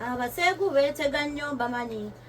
abaseegu beetega nnyo mbamanyi ah,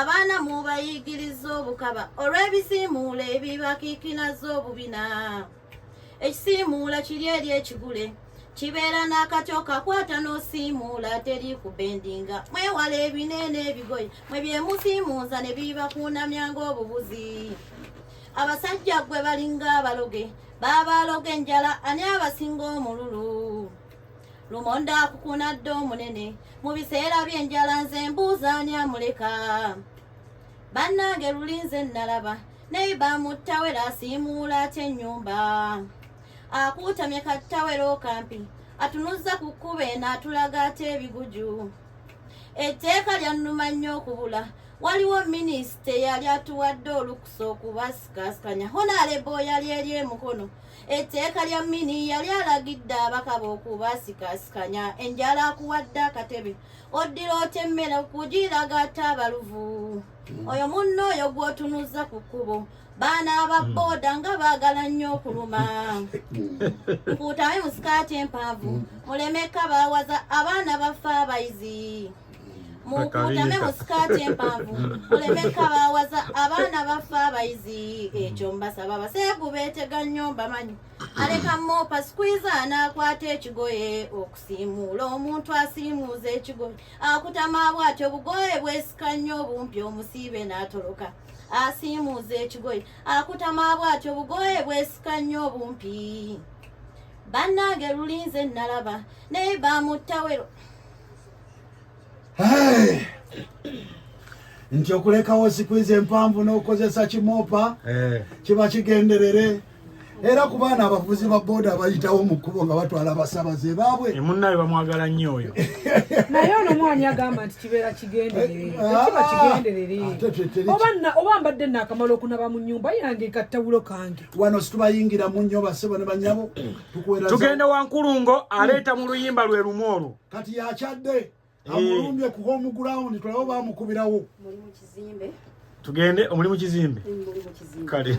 abaana mubayigiriza obukaba olw'ebisiimuula ebibakiikinaza obubina ekisiimuula kiri eri ekigule kibeera n'akati okakwata n'osiimuula teri kubendinga mwewala ebineena ebigoye mwe byemusiimuuza ne bibakuunamya ng'obubuzi abasajja gwe balinga abaloge baaba aloga enjala ani abasinga omululu lumonda akukuna dda omunene mu biseera by'enjala nze mbuuza ani amuleka bannange lulinze nnalaba neiba muttawera asiimuula atya ennyumba akuutamye kattawera okampi atunuzza ku kkuba eno atulaga ate ebiguju etteeka lyannuma nnyo okubula waliwo minisita eyali atuwadde olukusa okubasikasikanya honalebo yali eri emukono etteeka lya mini yali alagidde abakaba okubasikaasikanya enjala akuwadde akatebe oddira otya emmere okugiraga ate abaluvu hmm. oyo munno oyo gw'otunuzza ku kkubo baana aba hmm. booda nga baagala nnyo okuluma hmm. nkuutayo mu sikaati empanvu mulemeka baawaza abaana bafa abayizi mukuutame mu sikaati empanvu muleme kabaawaza abaana baffe abayizi ekyo mbasaba baseegu beetega nnyo mbamanyi aleka moopa sikwiza anaakwata ekigoye okusiimuula omuntu asiimuuza ekigoye akutama bwatyo bugoye bwesika nnyo obumpi omusiibe n'atoloka asiimuuza ekigoye akutama bwatyo bugoye bwesika nnyo obumpi bannange lulinze nnalaba naye bamutta wero Hey! nti okulekawo sikwizi empanvu n'okukozesa kimoopa eh. kiba kigenderere era ku baana abavuzi ba booda abayitawo mu kkubo nga batwala abasabaze baabwe eh, munnaye bamwagala nnyo oyo naye ono mwani agamba nti kibeera kigendererekiba kigenderere eh, ah, ah, oba mbadde naakamala okunaba mu nyumba yange kattawulo kange wano situbayingira mu nnyo basebo ne banyabo tugenda wankulungo aleeta mu luyimba lwe lumu olwo kati yakyadde eh. amulumbye ku home ground tulabo bamukubirawo mulimu kizimbe tugende omulimu kizimbe kale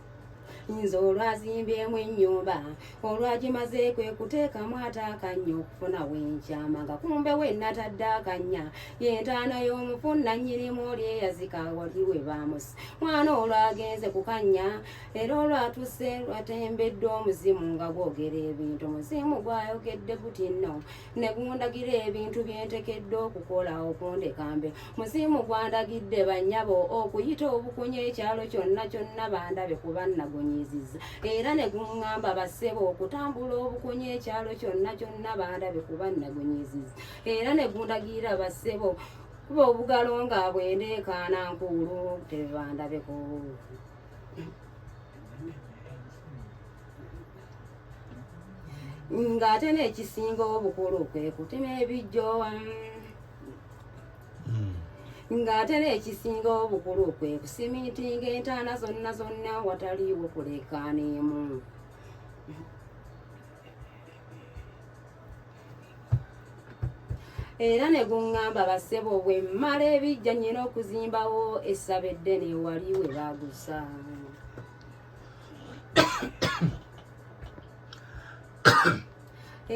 nze olwazimbyemu ennyumba olwagimaze kwe kuteekamu ate akannya okufuna wenkyama nga kumbe we natadde akannya yentaana y'omufu nannyirimu oli eyazika wali we baamusi mwana olwagenze ku kannya era olwatuse lwatembeddwa omuzimu nga gwogera ebintu muzimu gwayogedde guti nno ne gundagira ebintu bye ntekedde okukola okundekambe musiimu gwandagidde bannyabo okuyita obukunya ekyalo kyonna kyonna bandabe kuba nnagunyiizizza era ne guŋŋamba bassebo okutambula obukunya ekyalo kyonna kyonna bandabe kuba nnagunyiizizza era ne gundagira bassebo kuba obugalo nga bwendeekaana nkuulu tebandabeko ng'ate n'ekisinga obukulu kwe kutima ebijjo hmm. ng'ate n'ekisinga obukulu kwe kusimintinga entaana zonna zonna wataliiwo kulekaaniimu era ne guŋŋamba bassebo bwe mmala ebijja nnyina okuzimbawo essaba eddene wali we baagusa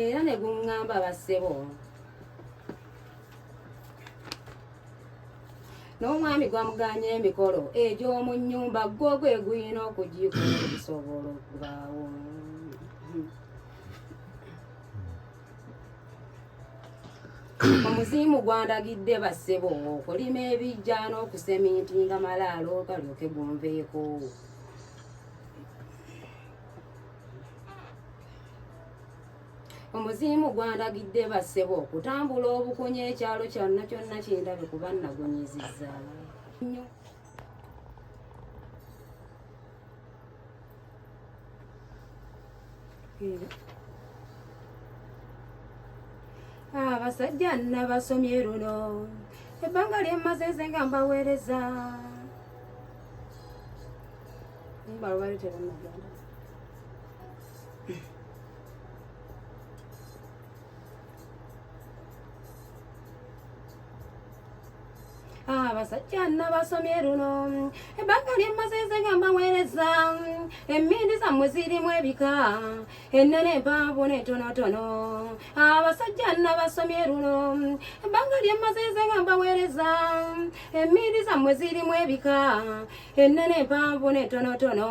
era ne guŋŋamba bassebo n'omwami gwamuganya emikolo egy'omu nnyumba gwo gwe guyina okugikusobola okubaawo omuzimu gwandagidde bassebo okulima ebijja n'okuseminti nga malaalo galyoke gunveeko omuzimu gwandagidde bassebo okutambula obukunya ekyalo kyonna kyonna kindabe kuba nagunyizizza abasajja nabasomye luno ebbanga lyemmaze nze nga mbaweereza abasajja nabasomye luno ebbanga lyemmazize nga mbaweereza emmindi zammwe zirimu ebika ennene empanvu n'entonotono abasajja nabasomye luno ebbanga lyemmazize nga mbaweereza emmindi zammwe zirimu ebika ennene empanvu n'entonotono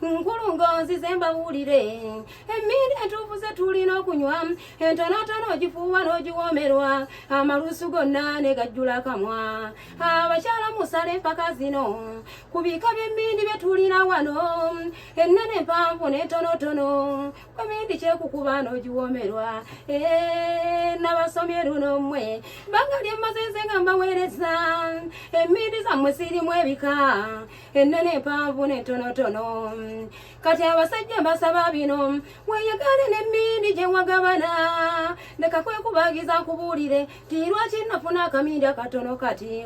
nkulu ngonzi ze mbawulire emmindi entuufu ze tulina okunywa entonotono ogifuuwa n'ogiwoomerwa amalusu gonna ne gajjula akamwa abakyala musala empaka zino ku bika by'emmindi bye tulina wano ennene empanvu n'entonotono komindi kyekukuba n'ogiwomerwa eh, nabasomye luno mmwe banga lyemmazenze nga mbaweereza emmindi zammwe zirimu ebika ennene empanvu n'entonotono kati abasajja mbasaba bino weyagale n'emmindi gye wagabana leka kwekubagiza nkubuulire ti lwaki nafuna akamindi akatono kati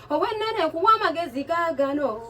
Owennene nkuwa amagezi gaagano.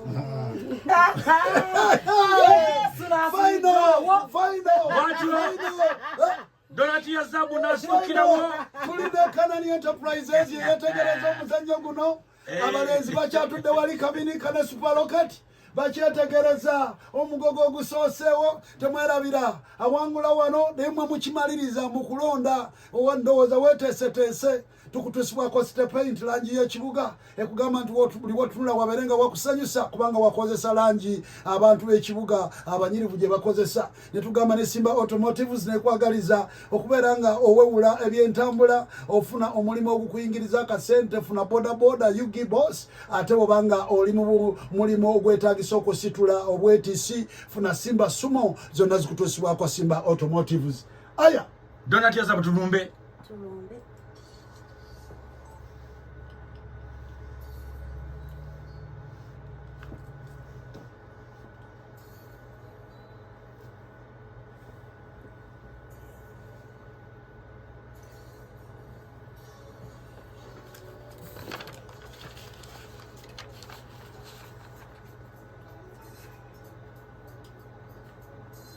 Donati ya zabu nasukirawo. Tulidde Kanani Enterprises yeyetegereza omuzannyo guno. Eh. Abalenzi bakyatudde wali kabini kana superlocate. bakyetegereza omugogo ogusooseewo temwerabira awangula wano naye mwe mukimaliriza mu kulonda owa ndowooza weeteeseteese tukutusibwako sitepainti langi y'ekibuga ekugamba nti buli wotunula wabeere nga wakusanyusa kubanga wakozesa langi abantu b'ekibuga abanyirivu gye bakozesa ne tugamba ne simba automotives nekwagaliza okubeera nga owewula ebyentambula ofuna omulimu ogukuyingiriza akasente funa bodaboda ugibos ate obanga oli mu mulimu ogwetagisa okusitula obwetisi funa simba sumo zonna zikutusibwako simba automotives aya Donati azabu tulumbe. Tulumbe.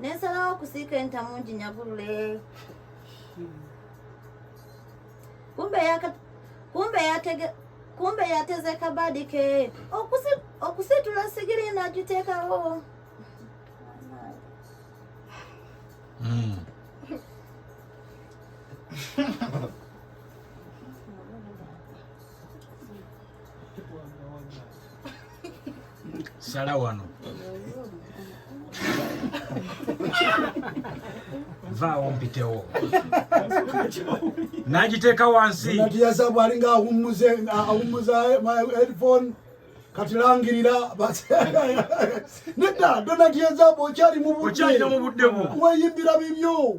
nensalawo okusiika entamu nginyagulule kumbe yateze kabadi ke okusitula sigiri nagiteekawo hmm. sala wano vaawo mpitewo nagiteeka wansi natiyaza bwalinga awummuze awummuza headphone kati langirira nedda donatiyaza bwokyali mu budde weyimbira bibyo